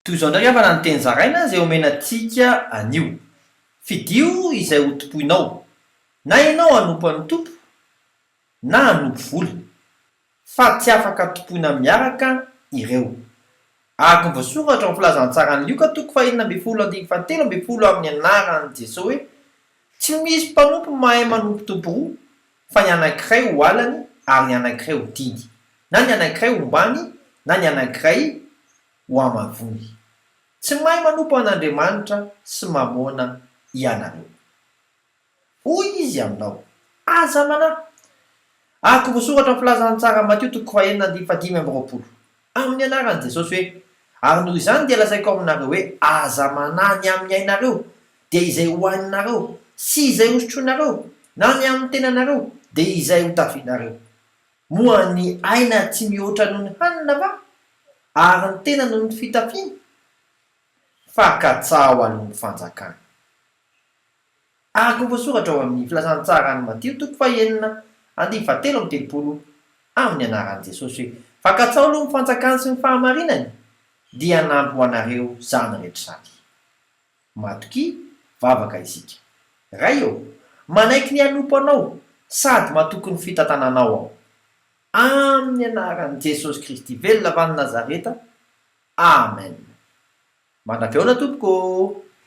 Toy izao indray havana ny teny zaraina izay omena antsika anio, Fidio izay hotompoinao, na ianao hanompo an'ny Tompo na hanompo vola, fa tsy afaka tompoina miaraka ireo. Araka ny voasoratra ao amin'ny Filazantsaran'i Lioka toko fahenina ambin'ny folo andininy fahatelo ambin'ny folo amin'ny anaran'i Jesoa hoe, Tsy misy mpanompo mahay manompo tompo roa, fa ny anankiray ho halany ary ny anankiray ho tiany, na ny anankiray hombany na ny anankiray ho amavony. Tsy mahay manompo an'Andriamanitra sy Mamôna ianareo. Hoy Izy aminao, Aza manahy! Araka voasoratra amin'ny Filazantsara, Matio toko fahenina andininy fahadimy amby roapolo, amin'ny anaran'i Jesosy hoe, Ary noho izany dia lazaiko aminareo hoe, Aza manahy ny amin'ny ainareo, dia izay hohaninareo, sy izay hosotroinareo, na ny amin'ny tenanareo, dia izay hotafianareo. Moa ny aina tsy mihoatra noho ny hanina va? Ary ny tena noho ny fitafiana? Fakan-tsaho an'omby fanjakana. Araka ny voasoratra ao amin'ny Filazantsaran'i Matio toko fahenina andinin'ny fahatelo amby telopolo amin'ny anaran'i Jesosy hoe, Fakan-tsaho aloha ny fanjakany sy ny fahamarinany, dia hanampy ho anareo izany rehetra izany. Matokia, vavaka isika. Ray ô, manaiky ny hanompo Anao sady matoky ny fitantananao aho. Amin'ny anaran'i Jesosy Kristy velona avy any Nazareta, Amen. Mandravy aona tompoko ô.